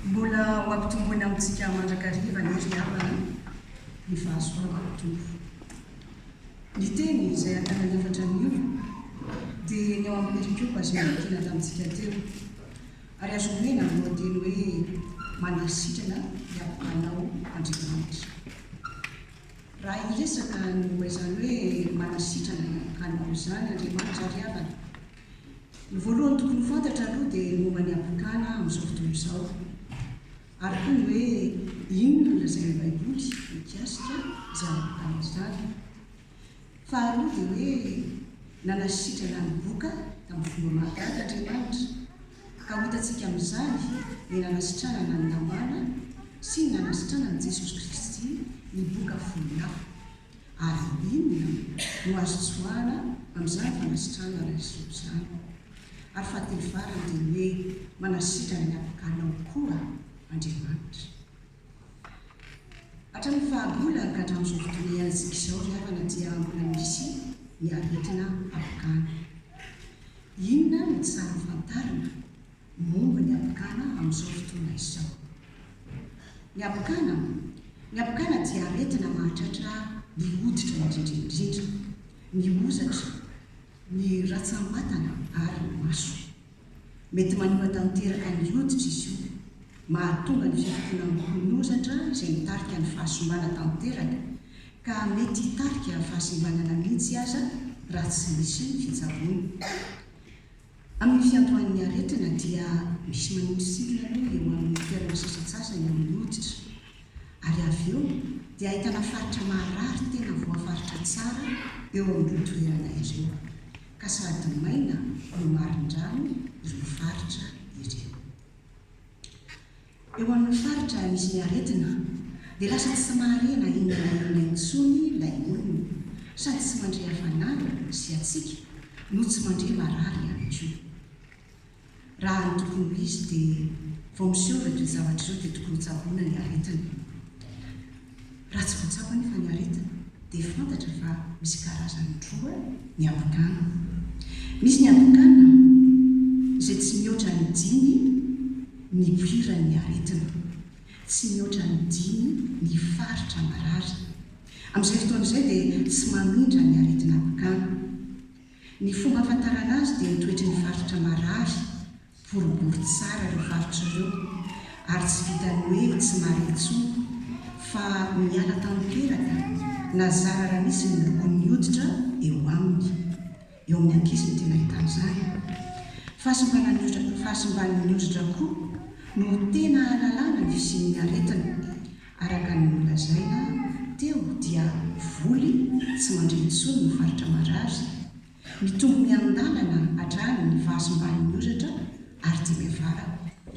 Mbola ho ampitomboina amintsika mandrakariva anie ry havana ny fahasoavan'ny Tompo. Ny teny izay an-tanany efatra anio dia ny ao amin'ny perikopa izay novakiana tamintsika teo, ary azo omena ny lohateny hoe Mandeha sitrana hiampanga anao Andriamanitra. Raha hiresaka ny momba izany hoe manasitrana anao izany Andriamanitra ry havana, Ny voalohany tokony ho fantatra aloha dia ny momba ny apokala amin'izao fotoana izao, ary koa ny hoe inona no lazain'ny Baiboly mikasika izany apokala izany. Faharoa dia hoe nanasitrana ny boka tamin'ny fomba mahagaga Andriamanitra, ka ho hitantsika amin'izany ny nanasitranana an'i Namàna sy ny nanasitranan'i Jesosy Kristy ny boka folo hafa. Ary inona no azo tsoahana amin'izany fanasitrahana laisoa izany? Ary fahatelofarany dia ny hoe manasitra ny apokalinao koa Andriamanitra. Hatramin'ny fahagola ka hatramin'izao fotoana iainantsika izao ry havana dia mbola misy ny aretina apokany. Inona no tsara ho fantarina? momba ny habokana amin'izao fotoana izao. Ny habokana, ny habokana dia aretina mahatratra ny hoditra indrindra indrindra, ny hozatra, ny ratsambatana ary ny maso. Mety manimba tanteraka ny hoditra izy io, mahatonga ny fifokonan'ny hono-hozatra izay mitarika ny fahasimbana tanteraka ka mety hitarika fahasimbanana mihitsy aza raha tsy misy fitsaboana. Amin'ny fiandohan'ny aretina dia misy manondro sitina aloha eo amin'ny toerana sasatsasany eo amin'ny hoditra ary avy eo dia ahitana faritra maharary tena voafaritra tsara eo amin'ireo toerana ireo ka sady maina no marindrano ireo faritra ireo. Eo amin'ny faritra nisy ny aretina dia lasa tsy mahare na inona na inona intsony ilay olona, sady tsy mandre hafanana sy hatsiaka no tsy mandre marary ihany koa. Raha ny tokony ho izy dia vao miseho ireo toe-javatra ireo dia tokony hotsaboina ny aretina. Raha tsy voatsapa anefa ny aretina dia fantatra fa misy karazany roa ny ampokana. Misy ny ampokana izay tsy mihoatra ny dimy nipoiran' ny aretina, tsy mihoatra ny dimy ny faritra marary. Amin' izay fotoana izay dia tsy mamindra ny aretina ampokana. Ny fomba ahafantarana azy dia ny toetry ny faritra marary boribory tsara ireo faritra ireo ary tsy vitan'ny hoe tsy mary intsony fa miala tanteraka na zara raha misy ny lokon'ny hoditra eo aminy. Eo amin'ny ankizy no tena ahitana izany. Fahasimbanan'ny fahasimban'ny hoditra koa no tena ahalalana ny fisian'ny aretina. Araka ny nolazaina teo dia voly tsy mandre intsony ny faritra marary. Mitombo miandalana hatrany ny vazo mbamin'ny oratra ary dia miavara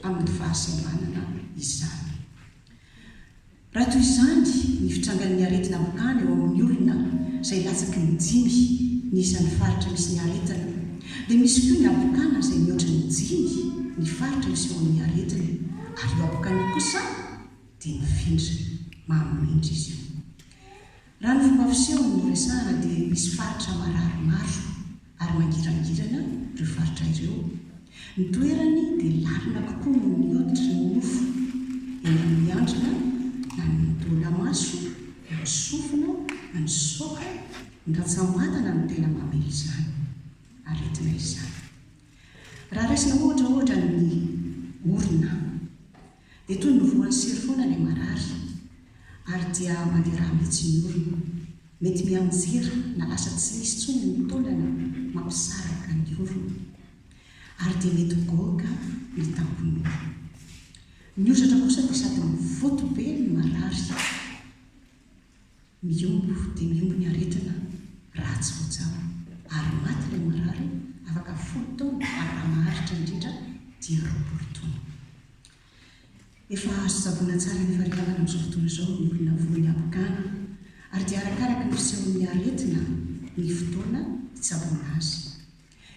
amin'ny vazo ambanana izany. Raha toy izany ny fitrangan'ny aretina mankany eo amin'ny olona izay latsaky ny dimy ny isan'ny faritra misy ny aretina dia misy koa ny habokana izay mihoatra ny dimy ny faritra isehoan'ny aretina ary io habokana io kosa dia mifindra maha mirindra izy io. Raha ny fomba fiseho no resahana dia misy faritra marary maro ary mangirangirana ireo faritra ireo. Ny toerany dia lalina kokoa noho ny hoditry ny nofo, eny amin'ny handrina na ny taolamaso na ny sofina na ny soka, ny rantsambatana no tena mamely izany aretina izany. Raha raisina ohatra ohatra ny orona Dia toy ny voan'ny sery foana ilay marary, ary dia mandeha rà mihitsy ny orona. Mety mianjera na lasa tsy misy intsony ny taolana mampisaraka ny orona. Ary dia mety goaka ny tampon'orona. Ny hozatra kosa dia sady mivoto be ny marary. Miombo dia miombo ny aretina raha tsy voajanona ary maty ilay marary afaka folo taona ary raha maharitra indrindra dia roapolo taona. Efa azo tsaboina tsara ny faharetagna amin'izao fotoana izao ny olona voan'ny habokana ary dia arakaraka ny fisehon'ny aretina ny fotoana hitsaboana azy.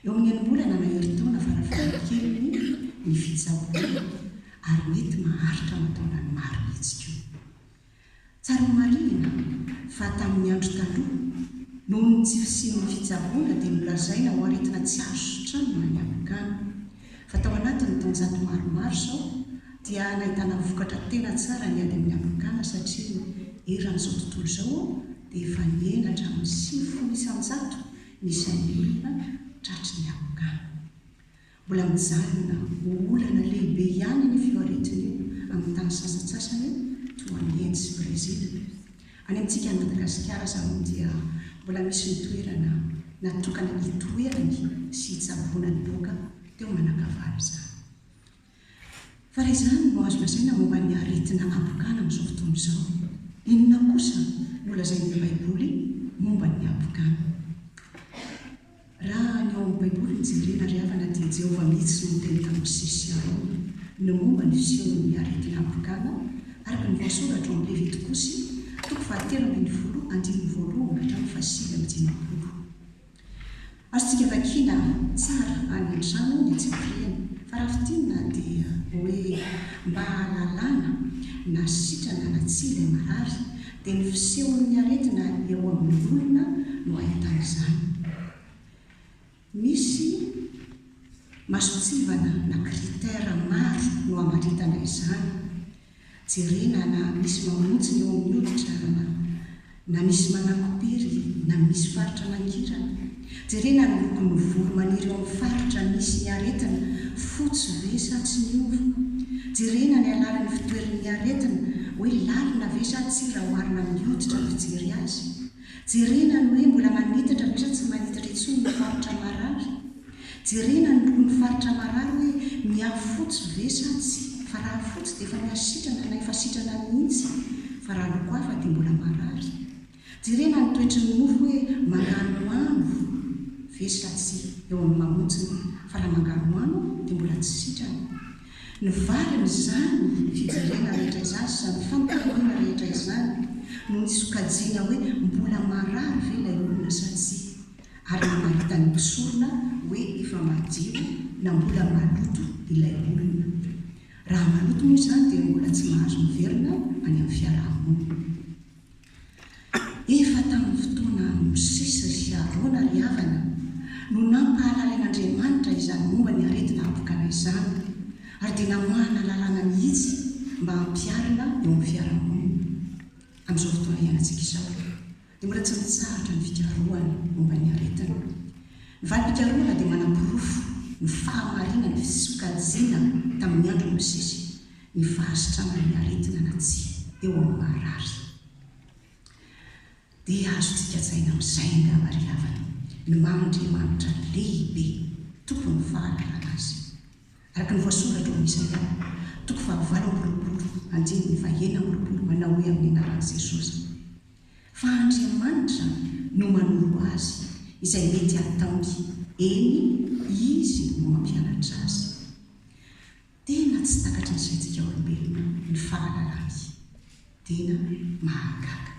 Eo amin'ny enim-bolana na herintaona farafahakeliny ny fitsaboana ary mety maharitra aman-taonany maro mihitsy koa. Tsara ho marihina fa tamin'ny andro taloha, noho ny tsy fisian'ny fitsaboana dia nolazaina ho aretina tsy azo sitranina ny ampikany. Fa tao anatin'ny taonjato maromaro izao dia nahitana vokatra tena tsara ny ady amin'ny ampikana satria eran'izao tontolo izao dia efa nihena hatramin'ny sivifolo isan-jato ny isan'ny olona tratry ny ampikany. Mbola mijanona ho olana lehibe ihany anefa io aretina io amin'ny tany sasantsasany toa an'i Inde sy Brezila. Any amintsika any Madagasikara aza moa dia mbola misy ny toerana natokana hitoerany sy hitsaboana ny loka teo Manakavalo izany. Fa raha izany no azo lazaina momba ny aretina habokana amin'izao fotoana izao, inona kosa no lazain'ilay Baiboly momba ny habokana? Raha ny ao amin'ny Baiboly no jerena, ry havana, dia Jehovah mihitsy no niteny tamin'i Mosesy sy Arona ny momba ny fisehon'ny aretina afrikàna, araka ny voasoratra ao amin'ny Levitikosy, toko fahatelo ambin'ny folo, andininy voalohany hatramin'ny fahasivy amby dimampolo. Azontsika vakiana tsara any an-trano ny tsipiriany, fa raha fintinina dia hoe mba hahalalana na sitrana na tsia ilay marary, dia ny fisehon'ny aretina eo amin'ny olona no ahitana izany. Misy masontsivana na critères maro no amaritana izany, jerena na misy mamontsy ny eo amin'ny hoditra na misy manakopy iry na misy faritra mangirana, Jerena ny lokon'ny volo maniry eo amin'ny faritra misy ny aretina, fotsy ve sa tsy miova? Jerena ny halalin'ny fitoeran'ny aretina, hoe lalina ve sa tsia raha oharina amin'ny hoditra ny fijery azy? Jerena ny hoe mbola manitatra ve sa tsy manitatra intsony ny faritra marary? Jerena ny lokon'ny faritra marary hoe miha-fotsy ve sa tsia fa raha fotsy dia efa miha-sitrana na efa sitrana mihitsy fa raha loko hafa dia mbola marary? Jerena ny toetry ny mofo hoe manganohano ve sa tsia eo amin'ny mamontiny fa raha manganohano dia mbola tsy sitrana. Ny valiny izany fijerena rehetra izany sy izany fampirariana rehetra izany no ny sokajiana hoe mbola marary ve ilay olona sa tsia ary namaritan'ny mpisorona hoe efa madio na mbola maloto ilay olona. Raha maloto moa izany dia mbola tsy mahazo miverina any amin'ny fiaraha-monina. Efa tamin'ny fotoanan'i Mosesy sy Arona ry havana no nampahalalen'Andriamanitra izany momba ny aretina habokana izany, ary dia namahana lalàna mihitsy mba hampiharina eo amin'ny fiarahamonina. Amin'izao fotoana iainantsika izao, dia mbola tsy mitsahatra ny fikarohana momba ny aretina. Ny valim-pikarohana dia manaporofo ny fahamarinan'ny fisokajiana tamin'ny andron'i Mosesy. ny fahasitrana ny aretina na tsia eo amin'ny marary. Dia azontsika tsaina amin'izay angamba ry havana ny maha-Andriamanitra lehibe, Tompon'ny fahalalana azy. Araka ny voasongadra ao amin'ny Isaia, toko fahavalo amby roapolo, andininy fahenina amby roapolo, manao hoe amin'ny anaran'i Jesosy, Fa Andriamanitra no manoro azy izay mety hataony, eny, Izy no mampianatra azy. Tena tsy takatry ny saintsika olombelona ny fahalalany. Tena mahagaga.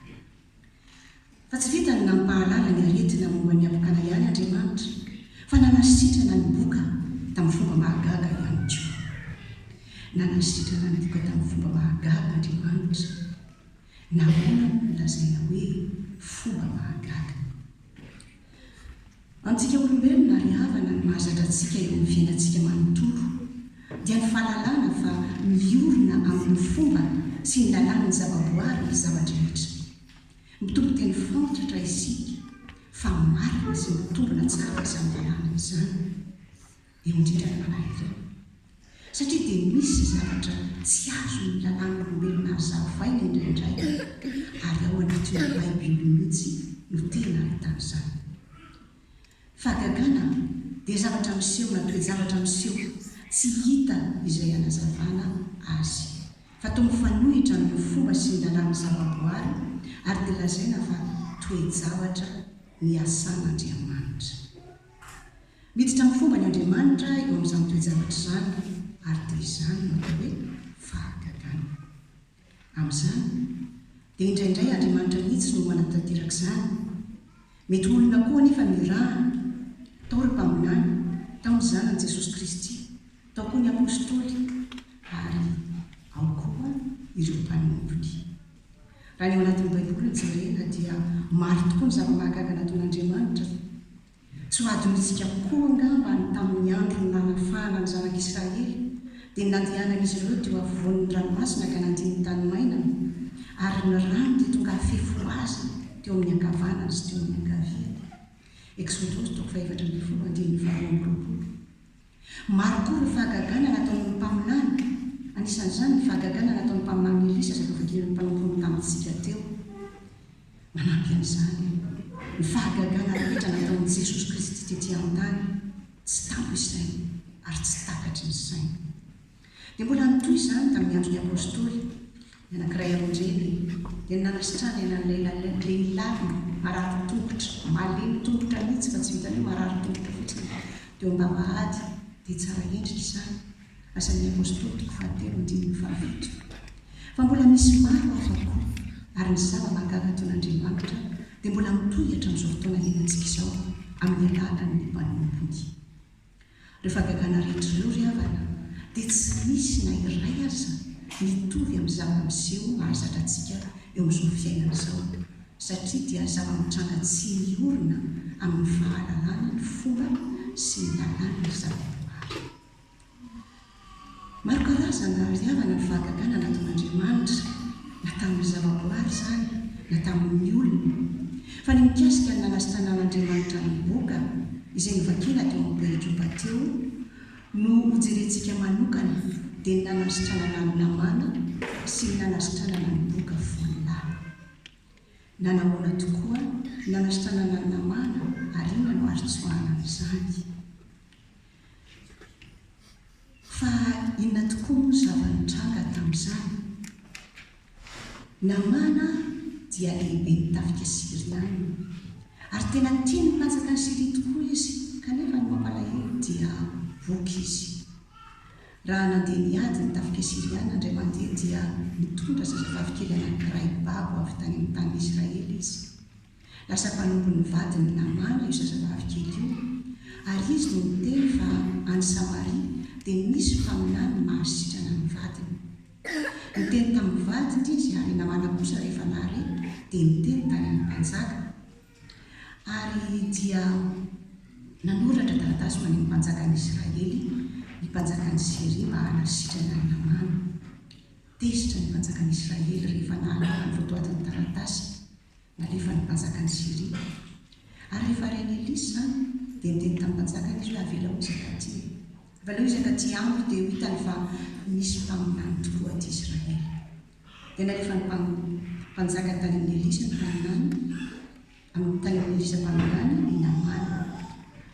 Fa tsy vitan'ny nampahalala ny aretina momba ny habokana ihany Andriamanitra, fa nanasitrana ny boka tamin'ny fomba mahagaga ihany koa. Nanasitrana ny boka tamin'ny fomba mahagaga Andriamanitra. Nahoana moa no lazaina hoe fomba mahagaga? Antsika olombelona ary havana no mahazatra antsika eo amin'ny fiainantsika manontolo dia ny fahalalana fa miorina amin'ny fomba sy ny lalàn'ny zavaboary ny zava-drehetra. Mitompo teny faontratra isika fa marina sy mitombina tsara izany lalàna izany. eo an-tretran'ny mpanaretina, satria dia misy zavatra tsy azon'ny lalàn'olombelona azo zavaina indraindray, ary ao anatin'ny Baiboly mihitsy no tena ahitana izany. Fahagagana dia zavatra miseho na toe-javatra miseho tsy hita izay hanazavana azy, fa toa mifanohitra amin'ny fomba sy ny lalàn'ny zavaboary, ary dia lazaina fa toe-javatra niasan'Andriamanitra. Miditra amin'ny fomban' Andriamanitra eo amin'izany toe-javatra izany, ary dia izany no atao hoe fahagagana. Amin'izany, dia indraindray Andriamanitra mihitsy no manatanteraka izany. Mety ho olona koa anefa no irahany. Tao ireo mpaminany, tao ny Zanany Jesosy Kristy, tao koa ny Apôstôly, ary ao koa ireo mpanompony. Raha ny ao anatin'ny Baiboly no jerena, dia maro tokoa ny zava-mahagaga nataon'Andriamanitra. Tsy ho adinontsika koa angamba ny tamin'ny andron'ny nanafahana ny zanak'i Israely, dia ny nandehanan'izy ireo teo afovoan'ny ranomasina ka nandia ny tany mainany, ary ny rano dia tonga hafefy ho azy teo amin'ny ankavanany sy teo amin'ny ankaviany. Eksodos toko fahefatra ambin'ny folo, andininy faharoa amby roapolo. Maro koa ireo fahagagana nataony ny mpaminany, anisan'izany ny fahagagana nataon'ny mpaminany Elisa zatovokelin'ny mpanompon'ny tamintsika teo. Manampy an'izany ny fahagagana rehetra nataon'i Jesosy Kristy tetỳ an-tany, tsy tampo isaina ary tsy takatry ny saina. Dia mbola nitohy izany tamin'ny andron'ny Apôstôly, ny anankiray aman-dreny dia ny nanasitrahany an'ilay lehilahy marary tongotra, malemy tongotra mihitsy fa tsy vitan'ny hoe marary tongotra fotsiny, teo am-bavahady, dia tsara endrika izany, Asan'ny Apôstôly toko fahatelo andininy fahafito. Fa mbola misy maro hafa koa, ary ny zava-mahagaga ataon'Andriamanitra dia mbola mitohy hatramin'izao fotoana iainantsika izao amin'ny alalan'ny mpanompony. Ireo fahagagana rehetra ireo ry havana dia tsy misy na iray aza mitovy amin'ny zava-miseho mahazatra antsika eo amin'izao fiainana izao satria dia zava-mitranga tsy miorina amin'ny fahalalana ny fomba sy ny lalàn'ny zava-boahary. Maro karazany raha ny fihavana ny fahagagana nataon'Andriamanitra, na tamin'ny zavaboary izany na tamin'ny olona. Fa ny mikasika ny nanasitranan'Andriamanitra an'i Boka, izay novakina teo amin'ny perikopa teo, no hojerentsika manokana, dia ny nanasitranana an'i Lamàna sy ny nanasitranana an'i Boka foana. Na nahoana tokoa, ny nanasitranana an'i Lamàna, ary inona no azo tsoahana amin'izany? Fa inona tokoa moa zava-nitranga tamin'izany? Namàna dia lehiben'ny tafika Syriana, ary tena tia ny mpanjaka an'i Syria tokoa izy, kanefa ny mampalahelo dia voky izy. Raha nandeha niady ny tafika Syriana indray mandeha dia nitondra zazavavikely anankiray babo avy tany amin'ny tanin'i Israely izy. Lasa mpanompony vadiny Namàna io zazavavy kely io, ary izy no niteny fa any Samaria dia nisy mpaminany mahasitrana ny vadiny. Niteny tamin'ny vadiny izy, ary Namàna kosa rehefa nahare dia niteny tany amin'ny mpanjaka, ary dia nanoratra taratasy ho any amin'ny mpanjakan'ny Israely ny mpanjakan'i Syria mba hanasitrana an'i Namàna. Tezitra ny mpanjakan'ny Israely rehefa nahalala ny votoatin'ny taratasy. Nalefan'ny mpanjaka an'i Syria. Ary rehefa ren'i Elisy izany, dia niteny tamin'ny mpanjakany izy hoe, Avela ho izaka aty e! Fa aleo izaka aty amiko, dia ho hitany fa misy mpaminany tokoa aty Israely. Dia nalefan'ny mpanjaka tany amin'i Elisy ny mpaminany, tany amin'i Elisa mpaminany, i Namàna.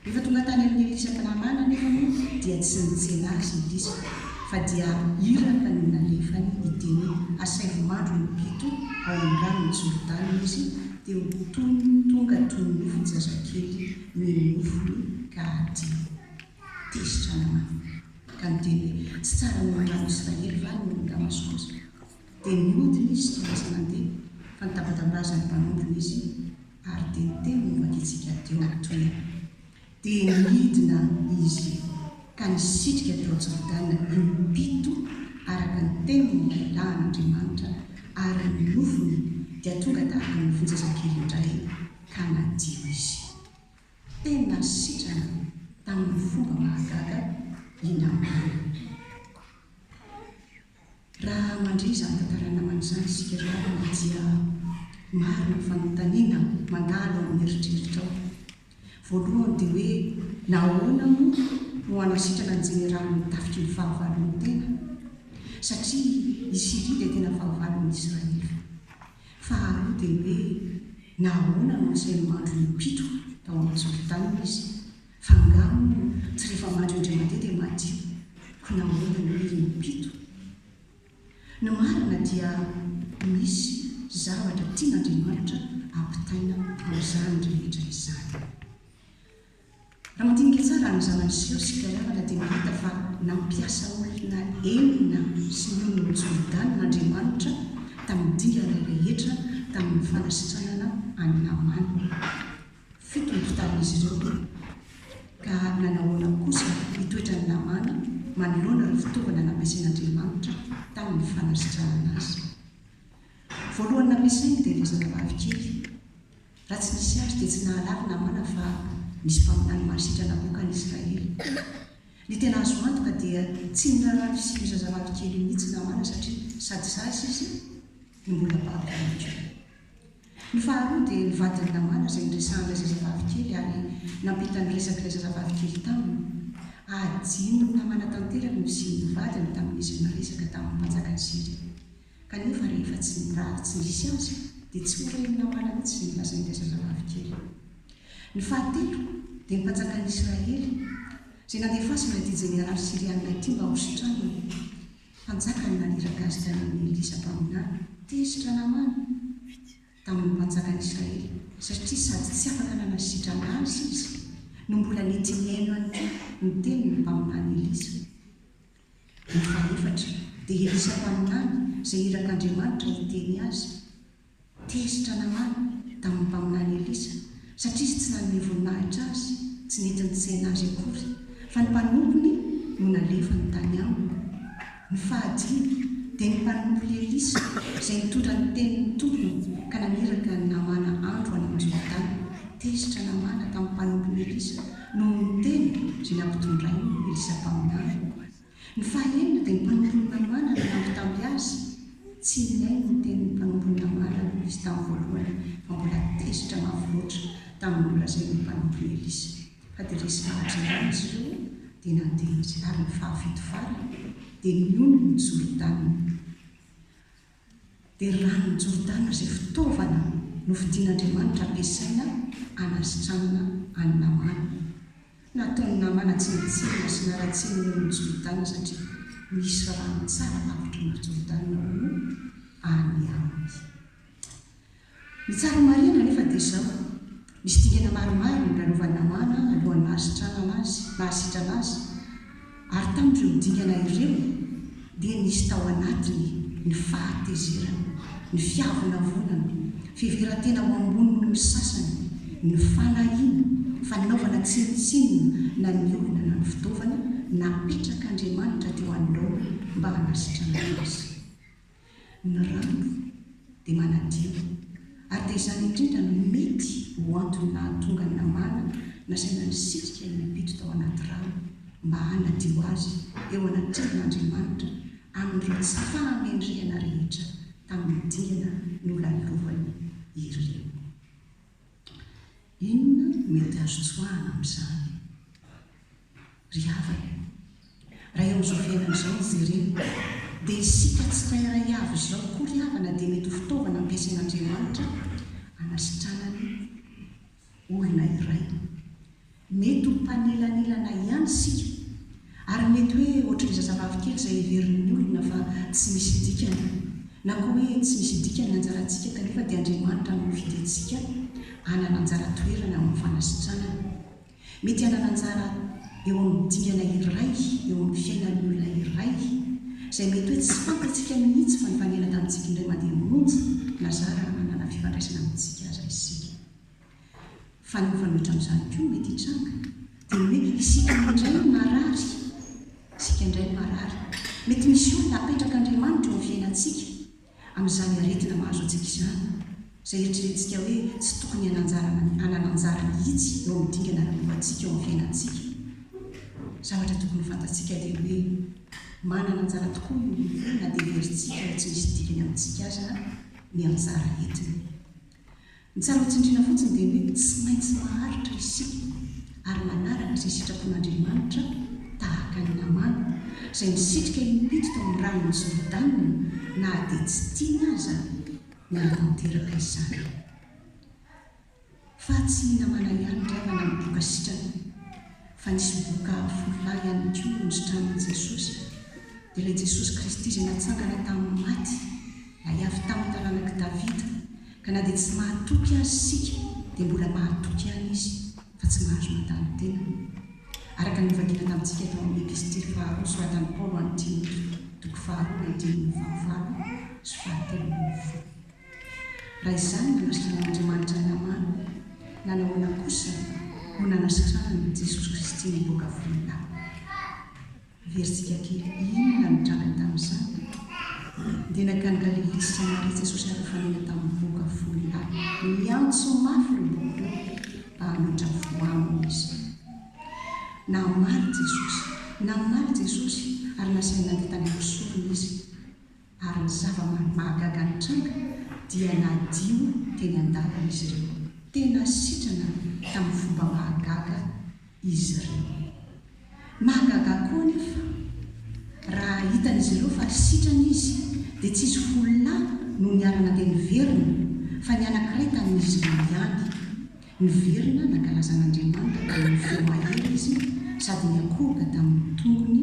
Rehefa tonga tany amin'ny Elisha mpilamàna anefa moa dia tsy nitsena azy ny lisitra fa dia iraka no nalefany hiteny hoe, Asaivo mandro im-pito ao amin'ny ranon'i Jordana izy teo toy ny tonga toy ny nofy zazakely mihin'ny nofony ka hadio. Tezitra Namàna ka niteny hoe, Tsy tsara noho ny rano Israely va ny olon'i Damaskosa? Dia niodina izy tsy lasa nandeha fa nitabatambazan'ny mpanompony izy Ary dia niteny momba ny antsika teo amin'ny toerana. Dia nidina izy ka nisitrika tao Jordana im-pito araka ny tenin'ny lahilahin' Andriamanitra, ary ny nofony dia tonga tahaka ny nofon'zazakely indray, ka nadio izy. Tena sitrana tamin'ny fomba mahagaga i Namàna. Raha mandre izany tantara namana izany isika ry havana dia maro ny fanontaniana mandalo ao amin'ny eritreritrao. Voalohany dia hoe nahoana moa no hanasitrana ny jeneraly ny tafitry ny fahavalon'ny tena? Satria i Syria dia tena fahavalon'ny Israely. Faharoa dia hoe nahoana no asainy mandro im-pito tao amin'ny Jordana izy Fa angaha moa tsy rehefa maty Andriamandeha dia madio? Koa nahoana no irin'ny mpito? Ny marina dia misy zavatra tian'Andriamanitra ampitaina amin'izany rehetra izany. Raha mandinika tsara ny zava-niseho sy mpiara-mianatra dia mahita fa nampiasa olona enina sy ny olon'ny Jordana Andriamanitra tamin'ny dingana rehetra tamin'ny fanasitranana an'i Namàna. Fito no tamin'izy ireo ka nanahoana kosa ny toetran'i Namàna manoloana ireo fitaovana nampiasain'Andriamanitra tamin'ny fanasitranana azy? Voalohany nampiasainy dia ilay zazavavy kely. Raha tsy nisy azy dia tsy nahalala Namàna fa nisy mpaminany mahasitrana namoaka an'i Israely. Ny tena azo antoka dia tsy niraharaha ny fisian'io zazavavy kely io mihitsy Namàna satria sady zaza izy no mbola babo ihany koa. Ny faharoa dia ny vadin'i Lamàna izay niresahan'ilay zazavavy kely ary nampita ny resak'ilay zazavavy kely taminy. Adinona manatanteraka ny fisian'ny vadiny tamin'izy niresaka tamin'ny mpanjakan'i Syria. Kanefa rehefa tsy mirary tsy nisy azy, dia tsy ho ren'i Lamàna mihitsy izay nolazain'ilay zazavavy kely. Ny fahatelo dia ny mpanjakan'i Israely izay nandefasana ity jeneraly Syriana ity mba hositrana. Mpanjaka ny Madiragasika noho ny Elisa Mpaminany. Tezitra Namana tamin'ny mpanjakan'Israely satria sady tsy afaka nanao sitrana azy izy no mbola nety nihaino an'ity ny tenin'ny Mpaminany Elisa. Ny fahefatra dia Elisa Mpaminany izay irak'Andriamanitra hiteny azy. Tezitra Namàna tamin'ny mpaminany Elisa, satria izy tsy nanome voninahitra azy, tsy nety nitsaina azy akory, fa ny mpanompony no nalefany tany aminy. Ny fahadimy dia ny mpanompony Elisa izay nitondra ny tenin'ny tompony ka naniraka an'i Namàna andro any amin'ny Jordana. Tezitra Namàna tamin'ny mpanompony Elisa noho ny teny izay nampitondrainy Elisa mpaminany. Ny fahaenina dia ny mpanompony Namàna no nampitamby azy, tsy nihaino ny tenin'ny mpanompony Namàna izy tamin'ny voalohany fa mbola tezitra mafy loatra tamin'ny nolazain'ny mpanompony Elisa fa dia resy fahatrehana izy ireo dia nandeha izy ary ny fahafito farany dia nionona ny Jordana Dia ny ranon'i Jordana izay fitaovana nofidin'Andriamanitra ampiasaina hanasitranana an'i Namàna. Nataon'i Namàna tsinontsinona sy naratsiany ny olon'i Jordana satria nisy rano tsara tapitra ny ry Jordana hono any aminy. Ny tsara marihina anefa dia izao, misy dingana maromaro nolalovany Namàna alohan'ny nahasitranana azy, nahasitrana azy, ary tamin'ireo dingana ireo dia nisy tao anatiny ny fahatezerana, ny fiavonavonana, fiheveran-tena ho ambony noho ny sasany, ny fanahiana, fanaovana tsinontsinona na ny olona na ny fitaovana napetrak'Andriamanitra teo anoloany mba hanasitranana azy. Ny rano dia manadio, ary dia izany indrindra no mety ho antony nahatonga an'i Namàna nasaina nisitrika i Epito tao anaty rano mba hanadio azy eo anatrehan' Andriamanitra amin'ireo tsy fahamendrehana rehetra tamin'ny dingana nolalovany ireo. Inona no mety azo tsoahana amin'izany? Ry havana, raha eo amin'izao fiainana izao no jerena, dia isika tsirairay avy izao koa ry havana dia mety ho fitaovana ampiasain'Andriamanitra hanasitranany olona iray. Mety ho mpanelanelana ihany isika, ary mety hoe ohatrin'ny zazavavy kely izay heverin'ny olona fa tsy misy dikany, na koa hoe tsy misy dikany ny anjarantsika kanefa dia Andriamanitra no nofidiantsika hanana anjara toerana amin'ny fanasitranany. Mety hanana anjara eo amin'ny dingana iray eo amin'ny fiainan'ny olona iray, izay mety hoe tsy fantatsika mihitsy fa nifanena tamintsika indray mandeha monja na zara raha manana fifandraisana amintsika aza isika. Fa ny mifanohitra amin'izany koa mety hitranga dia ny hoe isika indray no marary, isika indray no marary. Mety misy olona apetrak'Andriamanitra eo amin'ny fiainantsika. Amin'izany aretina mahazo antsika izany, izay eritreretintsika hoe tsy tokony hanan-jara na hanana anjara mihitsy eo amin'ny dingana ara-boantsika eo amin'ny fiainantsika, zavatra tokony fantatsika dia hoe manana anjara tokoa ny olon-droa na dia heverintsika ho tsy misy dikany amintsika aza ny anjara entiny. Ny tsara ho tsindriana fotsiny dia ny hoe tsy maintsy maharitra isika ary manaraka izay sitrapon'Andriamanitra tahaka an'i Namàna, izay nisitrika impito tao amin'ny ranon'i Jordana na dia tsy tiany aza ny hanatanteraka izany. Fa tsy i Namàna ihany ry havana no boka sitrana fa nisy boka folo lahy ihany koa nositranin'i Jesosy, dia ilay Jesosy Kristy izay natsangana tamin'ny maty, ilay avy tamin'ny taranak'i Davida. Ka na dia tsy mahatoky azy isika dia mbola mahatoky ihany izy fa tsy mahazo mandany tena. Araka ny novakina tamintsika tao amin'ny Epistily faharoa soratan'i Paolo ho an'i Timoty, toko faharoa andininy fahavalo sy fahatelo ambin'ny folo. Raha izany no anasitranan'Andriamanitra ny namana, nanahoana kosa no nanasitranan'i Jesosy Kristy nivoaka voninahiny? Heverintsika kely inona no nitranga tamin'izany? Dia nankany Galilia sy Samaria Jesosy ary nifanena tamin'ny mponga folo lahy. Niantso mafy ireo boky ireo mba hametra voa aminy izy. Namaly Jesosy. Namaly Jesosy ary nasainy nandeha tany amin'ny sorona izy. ary ny zava-mahagaga nitranga dia nadio teny an-dalana izy ireo. Tena sitrana tamin'ny fomba mahagaga izy ireo. Mahagaga koa anefa raha hitan'izy ireo fa sitrana izy dia tsy izy folo lahy no niara-nandeha niverina fa ny anankiray tamin'izy ireo ihany. Niverina nankalaza an'Andriamanitra tamin'ny feo mahery izy sady niakohoka tamin'ny tongony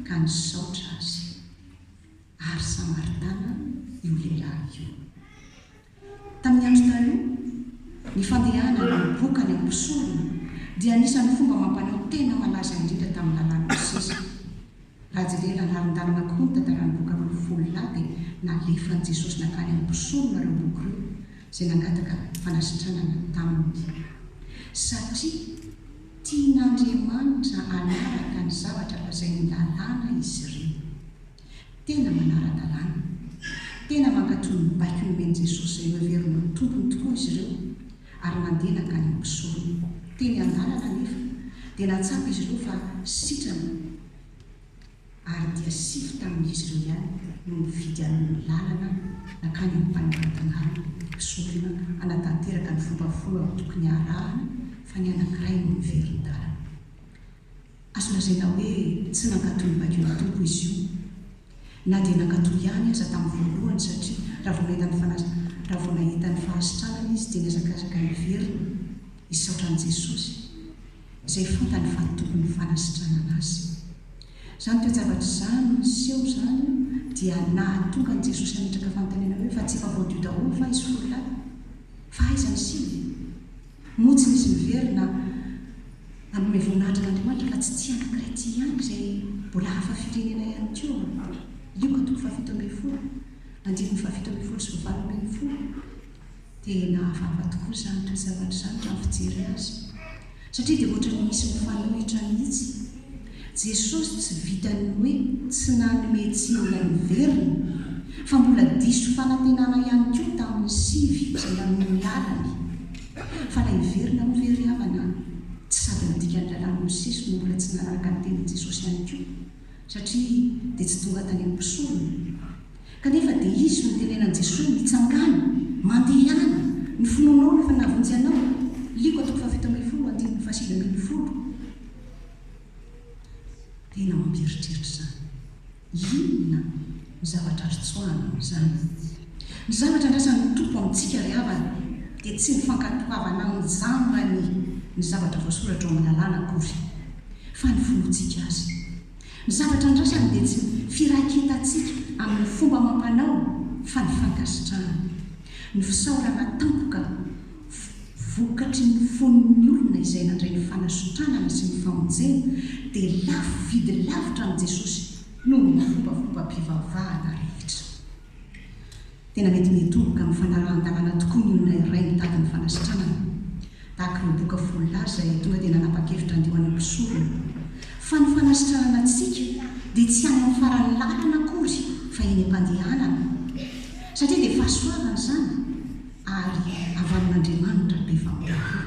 ka nisaotra Azy. ary Samaritana io lehilahy io. Tamin'ny Andro Taloha, ny fandehana na ny boka any amin'ny mpisorona dia anisan'ny fomba amam-panao tena malaza indrindra tamin'ny Lalàn'i Mosesy. Raha jerena lalandalana kokoa ny tantaran'ny boky roa folo lahy dia nalefan'i Jesosy nankany amin'ny mpisorona ireo boky ireo izay nangataka fanasitranana taminy satria Tian'Andriamanitra hanaraka ny zavatra lazain'ny Lalàna izy ireo. Tena manara-dalàna. Tena mankatò ny baiko nomen'i Jesosy izay noheveriny ho tompony tokoa izy ireo, ary mandeha nankany amin'ny mpisorony. Teny an-dalana anefa, dia nahatsapa izy ireo fa sitrana ary dia sivy tamin'izy ireo ihany no nifidy amin'ny lalana nankany amin'ny fanangan-tanàna mpisorona hanatanteraka ny fomba folo amin'ny tokony harahana fa ny anankiray no niveri-dalana. Azo lazaina hoe tsy nankatò ny vakin'ny Tompo izy io, na dia nankatò ihany aza tamin'ny voalohany satria raha vao nahita ny fanasa, raha vao nahita ny fahasitranana izy dia nihazakazaka niverina hisaotra an'i Jesosy. izay fantany fa ny tokony fanasitranana azy. Izany toe-javatra izany no niseho izany dia nahatonga an'i Jesosy hametraka fanontaniana hoe, Fa tsy efa voadio daholo va izy folo lahy? Fa aiza ny sivy? Moa tsy nisy niverina hanome voninahitra an'Andriamanitra fa tsy tia an'i Grety ihany izay mbola hafa firenena ihany koa? Lioka toko fahafito ambin'ny folo, andininy fahafito ambin'ny folo sy fahavalo ambin'ny folo. Dia nahavava tokoa izany toe-javatra izany raha ny fijery azy, satria dia ohatran'ny misy mifanohitra mihitsy. Jesosy tsy vitan'ny hoe tsy nanome tsiny ilay miverina, fa mbola diso fanantenana ihany koa tamin'ny sivy izay nanome ny lalany. Fa ilay hiverina moa ve ry havana, tsy sady ny dikan'ny lalàn'i Mosesy no mbola tsy nanaraka ny tenin'i Jesosy ihany koa? satria dia tsy tonga tany amin'ny mpisorona, kanefa dia izy no tenenan'i Jesoa mitsangàna, mandehana, ny finoanao no efa nahavonjy anao, Liko a toko fahafito ambin'ny folo andininy fahasivy ambin'ny folo, tena mampieritreritra izany, inona? Ny zavatra azo tsoahina amin'izany. Ny zavatra andrasan'ny Tompo amintsika ry havana dia tsy ny fankatoavana amin'ny zambany ny zavatra voasoratra ao amin'ny Lalàna akory, fa ny finoantsika azy. Ny zavatra andrasany dia tsy ny firaiketantsika amin'ny fomba amam-panao, fa ny fankasitrahana. Ny fisaorana tampoka vokatry ny fon'ny olona izay nandray ny fanasitranana sy ny famonjena dia lafo vidy lavitra amin'i Jesosy. noho ny fombafombam-pivavahana rehetra. Tena mety mitoboka amin'ny fanarahan-dalàna tokoa ny olona iray mitady ny fanasitranana, tahaka ireo boka folo lahy izay tonga dia nanapa-kevitra handeha ho any am-pisorona, fa ny fanasitranana antsika dia tsy any amin'ny faran'ny lalana akory fa eny am-pandehanana, satria dia fahasoavana izany ary avy amin'Andriamanitra be famindrafo.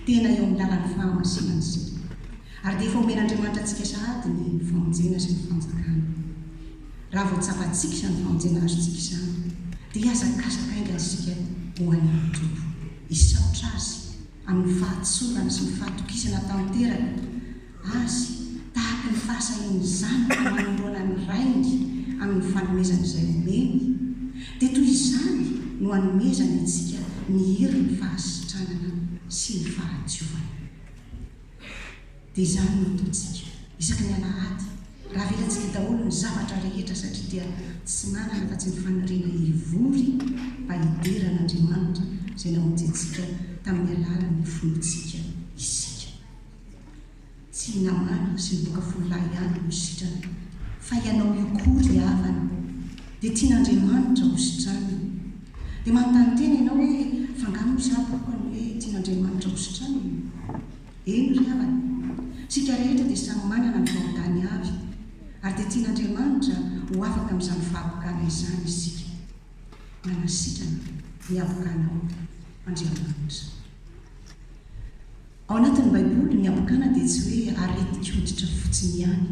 Tena eo amin'ny lalan'ny fahamasinan' isika, ary dia efa omen'Andriamanitra antsika sahady ny famonjena sy ny fanjakana. Raha vao tsapantsika izany famonjena azontsika izany, dia hihazakazaka haingana isika ho an'ny Tompo, hisaotra Azy amin'ny fahatsorany sy ny fahatokisana tanteraka, Azy, tahaka ny fahasahian'ny zanaka manoloana ny rainy amin'ny fanomezany izay omeny, dia toy izany no anomezany antsika ny herin'ny fahasitranana sy ny fahadiovana. Dia izany no ataontsika isaky ny alahady, raha avelantsika daholo ny zavatra rehetra, satria dia tsy manana afa-tsy ny faniriana hivory mba hidera an'Andriamanitra izay namonjy antsika tamin'ny alalan'ny fontsika isika. Tsy namalo sy nivoaka folo lahy ihany no nositrany fa ianao io koa ry havana dia tian'Andriamanitra hositranina. Dia manontany tena ianao hoe fa nga moa za boka ny hoe tian'Andriamanitra hositranina? Eny ry havana, tsika rehetra dia samy manana ny vahoadany avy ary dia tian'Andriamanitra ho afaka amin'izany fahabokana izany isika. Manasitrana dia avokanao Andriamanitra. Ao anatin'ny Baiboly, ny habokana dia tsy hoe aretin-koditra fotsiny ihany,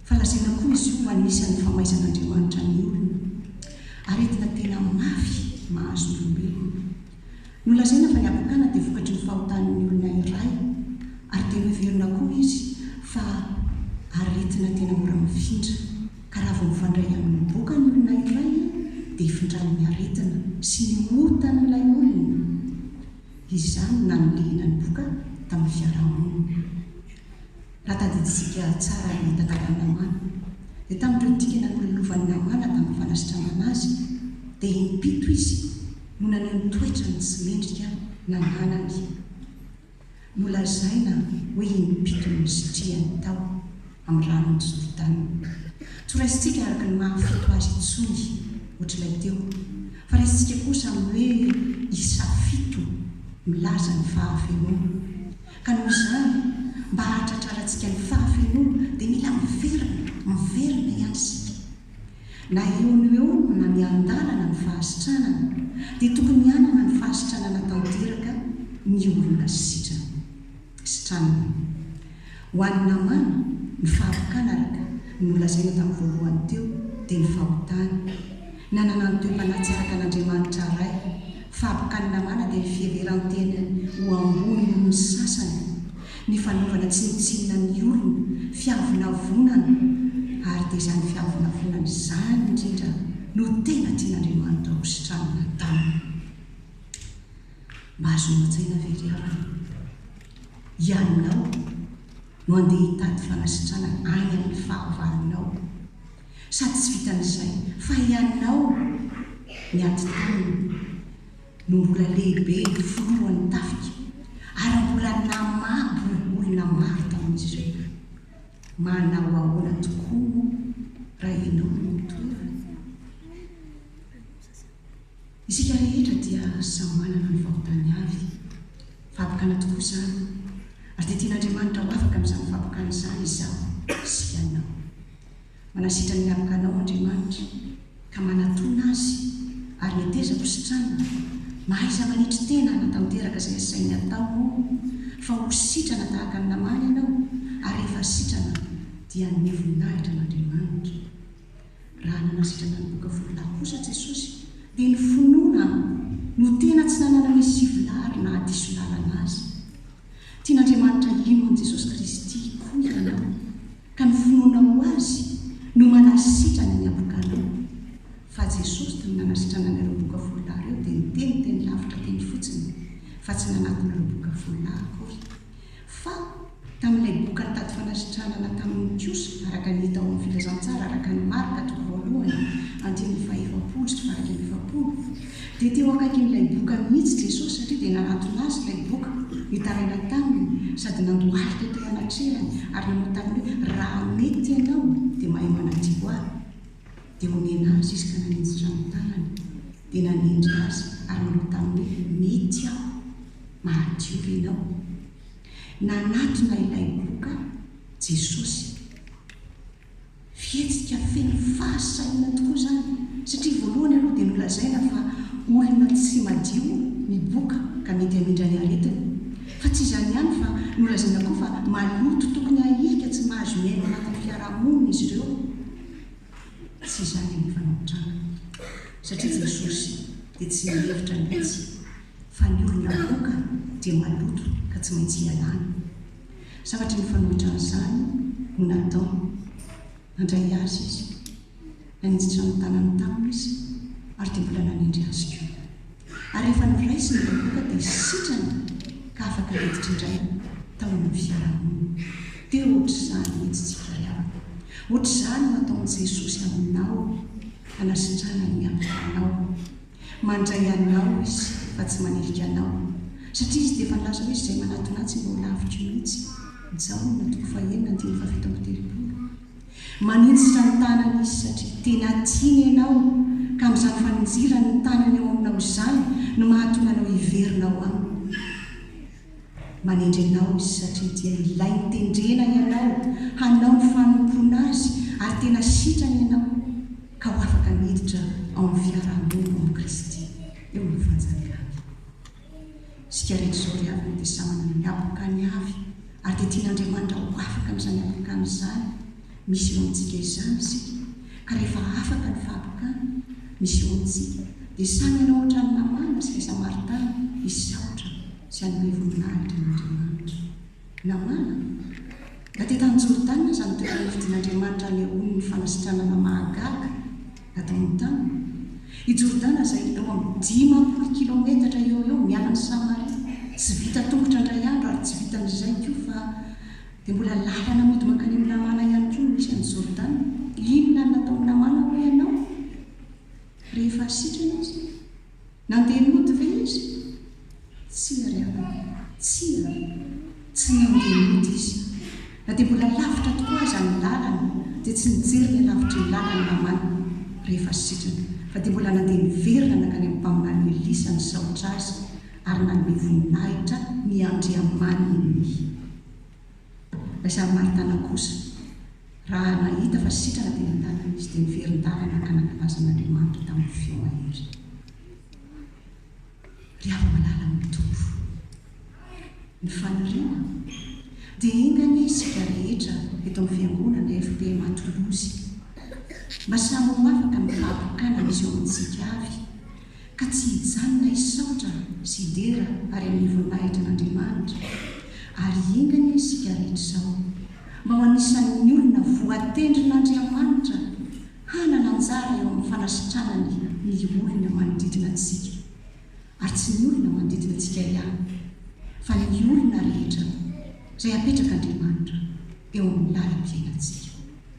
fa lazaina koa izy io ho anisan'ny famaizan'Andriamanitra ny olona, aretina tena mafy mahazo ny olombelona. Nolazaina fa ny habokana dia vokatry ny fahotan'ny olona iray, ary dia noheverina koa izy fa aretina tena mora mifindra, ka raha vao mifandray amin'ny boka ny olona iray, dia ifindran'ny aretina sy ny otan'ilay olona. Izany no nanilihina ny boka tamin'ny fiarahamonina. Raha tadidintsika tsara ny tantaran'i Namàna, dia tamin'ireo dikana nololovan'i Namàna tamin'ny fanasitranana azy, dia im-pito izy no naneho ny toetrany tsy mendrika nananany. Nolazaina hoe im-pito no nisitrihany tao. amin'ny ranon'i Jordana. Tsy ho raisintsika araka ny maha fito azy intsony, ohatr'ilay teo, fa raisintsika kosa amin'ny hoe isa fito, milaza ny fahafenoana. Ka noho izany, mba hahatratrarantsika ny fahafenoana, dia mila miverina, miverina ihany isika. Na eo no eo na miandalana ny fahasitranana, dia tokony hanana ny fahasitranana tanteraka ny olona sitrana. sy tranony. Ho an'i Namàna, ny fahavokan araka ny nolazaina tamin'ny voalohany teo dia ny fahotany. Nanana ny toe-panatsy araka an'Andriamanitra Ray. Fahabokan'i Namàna dia ny fiheveran-tenany ho ambony noho ny sasany, ny fanaovana tsinontsinona ny olona, fiavonavonana, ary dia izany fiavonavonana izany indrindra no tena tian'Andriamanitra hositranina taminy. Mahazoana tsaina ve ry havana? Ianao no andeha hitady fanasitrana any amin'ny fahavalonao. Sady tsy vitan'izay fa ianao ny ati-tanana no mbola lehibe filohan'ny tafika ary mbola namabo olona maro tamin'izy ireo. Manao ahoana tokoa moa raha ianao no mitory? Isika rehetra dia samy manana ny fahotany avy. Fahabokana tokoa izany, ary dia tian'Andriamanitra ho afaka amin'izany fahabokana izany izaho sy hianao. Manasitra ny mialoka anao Andriamanitra, ka manatona Azy, ary netezako ho sitrana, mahaiza manetry tena hanatanteraka izay asainy atao moa fa ho sitrana tahaka ny namana ianao, ary rehefa sitrana dia hanome voninahitra an'Andriamanitra. Raha nanasitrana ny boka folo lahy kosa Jesosy, dia ny finoana no tena tsy nananany sivolahy ary nahadiso lalana azy. Tian'Andriamanitra hino an'i Jesosy Kristy koa ianao, ka ny finoanao Azy no manasitrana ny abokanao. Fa Jesosy tony nanasitrana an'ireo boka folo lahy ireo dia niteny teny lavitra teny fotsiny, fa tsy nanatona ireo boka folo lahy akory. Fa tamin'ilay boka nitady fanasitranana taminy kosa, araka ny hita ao amin'ny Filazantsara araka an'i Marka, toko voalohany, andininy faha-efapolo sy faha-iraika amby efapolo, dia teo akaikin'ilay boka mihitsy Jesosy, satria dia nanantona Azy ilay boka nitaraina taminy, sady nandohalika teo anatrehan-y ary nanao taminy hoe, Raha mety Ianao, dia mahay manadio ahy. Dia omena Azy Izy ka nanenjitra ny tanany, dia nanendry Azy ary nanao taminy hoe, Mety Aho. Mahadiorinao. Nanatona ilay loka Jesosy. Fihetsika feno fahasahiana tokoa izany, satria voalohany aloha dia nolazaina fa olona tsy madio ny boka ka mety hamindra ny aretina. Fa tsy izany ihany fa nolazaina koa fa maloto tokony hahilika tsy mahazo miaina ao anatin'ny fiarahamonina izy ireo. Tsy izany anefa no nitranga, satria Jesosy dia tsy nihevitra ny tsy fa ny olony avoaka dia maloto ka tsy maintsy ialana. Savatry ny fanohitra an'izany no nataony. Nandray azy izy. Naninjitra ny tanany taminy izy ary dia mbola nanendry azy koa. Ary rehefa noraisiny ilay boka dia sitrana ka afaka niditra indray tao amin'ny fiarahamonina. Dia hoatr'izany mihitsy tsika ry havana. Hoatr'izany no ataon'i Jesosy aminao hanasitrana ny havananao. Mandray anao izy fa tsy manilika anao satria izy dia efa nilaza hoe izay manatona ahy tsy mba ho laviko mihitsy, Jaona toko fahenina andininy fahafito amby telopolo. Maninjitra ny tanany izy satria tena tiany ianao ka amin'izany faninjirany ny tanany ao aminao izany no mahatonga anao hiverina ao aminy. Manendry anao izy satria dia ilay nitendrena ianao hanao ny fanompoana azy ary tena sitrany ianao ka ho afaka miditra ao amin'ny fiaraha-monina amin'i Kristy eo amin'ny fanjakan'ny. Isika rehetra izao ry havana dia samy manana ny hapokany avy ary dia tian'Andriamanitra ho afaka amin'izany hapokany izany. Misy eo amintsika izany isika, ka rehefa afaka ny fahatokana misy eo amintsika, dia samy hanao hoatran'i Namàna sy ilay Samaritana, hisaotra sy hanome voninahitra an'Andriamanitra. Namàna? Na dia tany Jordana aza no toerana nifidin'Andriamanitra hanehoany fanasitranana mahagaga nataony taminy. I Jordana izay eo amin'ny dimampolo kilaometatra eo ho eo miala an'i Samaria, tsy vita tongotra indray andro ary tsy vitan'izay koa fa Dia mbola lalana mody mankany amin'i Namàna ihany koa no misy an'i Jordana. Inona no nataon'i Namàna hoy ianao, rehefa sitrana izy? Nandeha nody ve izy? Tsia, ry havana. Tsia. Tsy nandeha nody izy. Na dia mbola lavitra tokoa aza ny lalana, dia tsy nijery ny alavitry ny lalana Namàna, rehefa sitrana, fa dia mbola nandeha niverina nankany amin'ny mpaminany Elisa nisaotra azy, ary nanome voninahitra ny Andriamaniny. Ilay Samaritana kosa, raha nahita fa sitrana teny an-dalana izy, dia niverin-dava naka nankalazan' Andriamanitra tamin'ny feo mahery. Ry hava-malala amin'ny Tompo, ny faniriana dia enga anie isika rehetra eto amin'ny Fiangonana FPMA Toulouse mba samy ho afaka ny fahatokanana izao amintsika avy, ka tsy hijanona hisaotra sy hidera ary amin'ny voninahitry an'Andriamanitra, ary hingana isika rehetra izao mba ho anisan'ny olona voatendrin'Andriamanitra hanana anjara eo amin'ny fanasitranany ny olona manodidina antsika, ary tsy ny olona manodidina antsika ihany fa ny olona rehetra izay apetrak'Andriamanitra eo amin'ny lalam-piainantsika.